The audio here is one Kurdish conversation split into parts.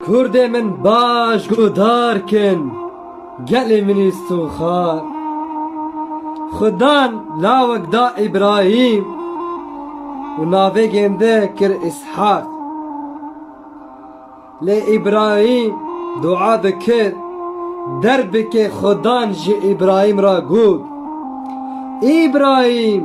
Kurdê min baş guhdar kin, gelê min î sûxan. Xudan lawek da Îbrahîm û navê gêndê kir Îshak. Lê Îbrahîm dua dikir, derbikê Xudan ji Îbrahîm re got, Îbrahîm!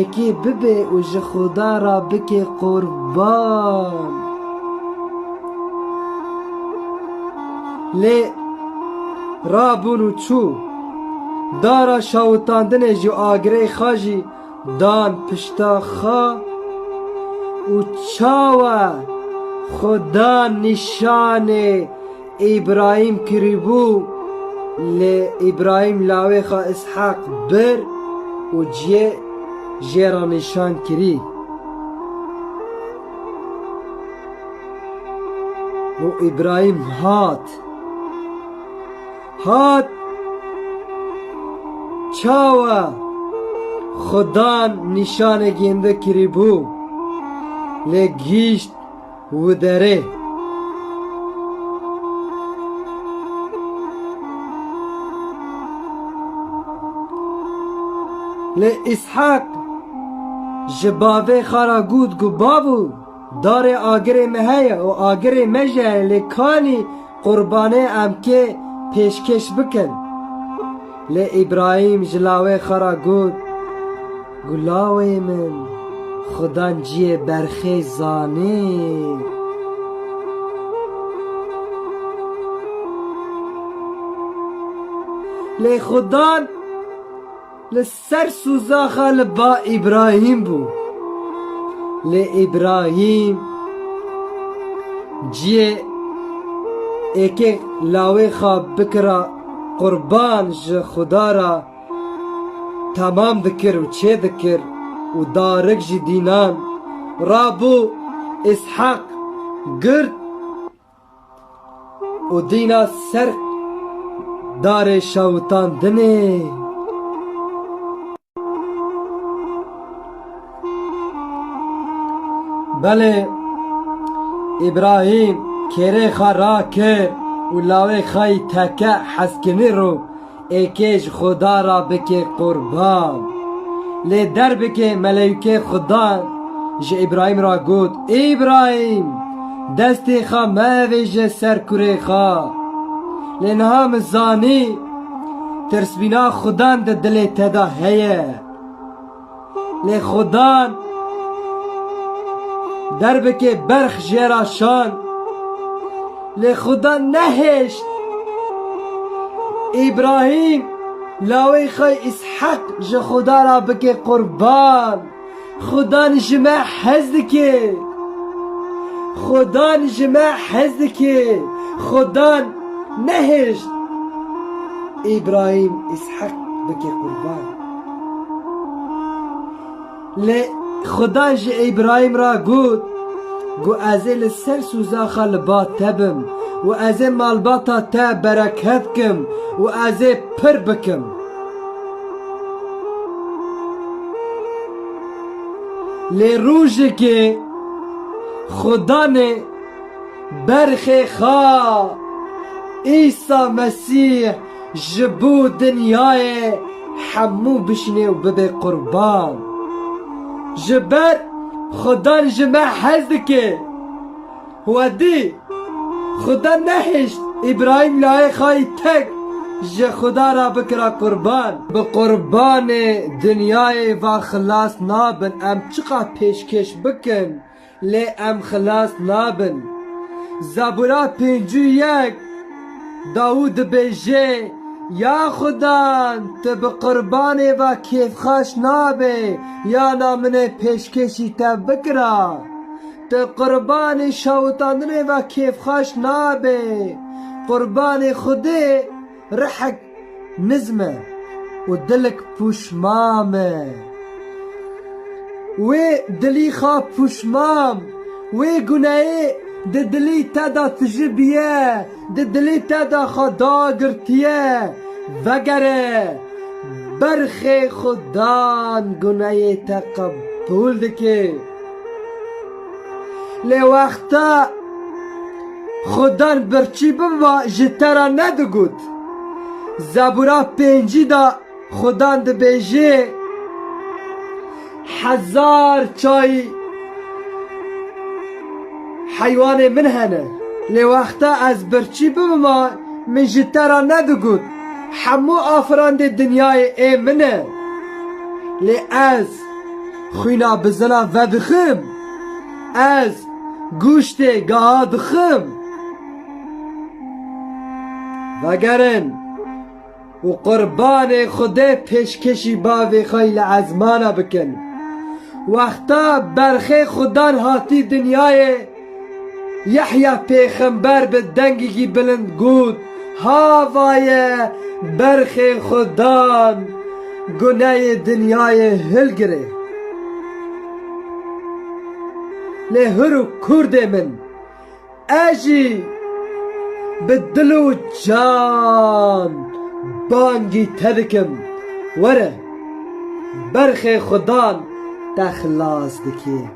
Êkî bibe û ji Xuda re bike qurban. Lê rabûn û çû. Dara şawitandinê ji agirê xwe jî dan pişta xwe û çawa xwe dan nîşanê Îbrahîm kiribû lê Îbrahîm lawê xwe Îsheq bir û ciyê jê re nîşan kirî. Û Îbrahîm hat. Hat çawa Xudan nîşanê gêndi kiribû lê gihîşt Wi derê. Lê Îshak ji bavê xwe re got ku bavû, darê agirê me heye û agirê me jî heye lê kanî Qurbanê MK pêşkêş bikin. Lê Îbrahîm ji lawê xwe re got, Gulawê min, Xuda ciyê berxê zanê. Lê Xuda li Ser sûzaxa li ba Îbrahîm bû. Lê Îbrahîm ciyê êkê lawê xwe bikira qurban ji Xuda re temam dikir û çêdikir û darik jî dînan. Rabû Îshak girt Û dîna ser darê şewitandinê. Belê Îbrahîm kêrê xwe rakir û lawê xwe yî teke heskinî rû Êkê ji Xuda re bike qurban. Lê derbikê meleykê Xuda ji Îbrahîm re got, Îbrahîm! Destê xwe meavêje ser kurê xwe. Lê niha min zanî tirsbîna Xudan di dilê te de heye. Lê xwe dan derbikê berx jê ra şan Lê xwe dan nehêşt Îbrahîm lawê xwe Îsheq ji Xuda ra bikê qurban Xwe dan ji me hez dikê Xwe dan ji me hez dikê Xwe dan nehêşt Îbrahîm Îsheq bikê qurban. Lê Xuda ji Îbrahîm re got, Ku ez ê li ser soza xwe li ba te bim û ez ê malbata te bereket bikim û ez ê pir bikim. Lê rojekê Xuda nê berxê xwe Îsa Mesîh, Ji bo dinyayê hemû bişinê û bibe qurban. Ji ber Xudan ji me hez dike. Xwedî, Xuda nehişt Îbrahîm layê xayî tek ji Xuda re bikira qurban. Bi qurbanê dinyayê ve xilas nabin. Em çiqas pêşkêş bikin. Lê em xilas nabin. Zabûra pêncû yek, Dawûd dibêje, Ya Xuda, tu bi qurbanê ve kêfxweş nabî, yana min ê pêşkêşî te bikira. Tu qurbanê şewitandinê ve kêfxweş nabî, qurbanê Xwedê. Rihek nizm e û dilik pûşmam e. Wê dilî xwe pûşmam, wê guneyê di dilî te de tijîbiye, di dilî te de xwe dagirtiye, vegere, berxê xwe dan guneyê te qebûl dike. Lê wexta Xudan birçî biba ji te re nedigot. Zebûra pêncî de Xudan dibêje, Hezar çayî heywanê min hene. Lê wexta ez birçî bibima min ji te re nedigot, Hemû afirandê dinyayê ê min e. Lê ez Xwîna bi zilam vedixim. Ez guştê geha dixim. Vegerin û qurbanê Xwedê pêşkêşî bavê xwe yî li ezmana bikin. Wexta berxê Xwedan hatî dinyayê. Yehya pêxember bi dengekî bilind got, Havaye berxê xwe dan guneyê dinyayê hilgirê. Lê hûr û kurdê min, e jî bi dil û can bangî te dikim, were, berxê xwe dan te xilas dike.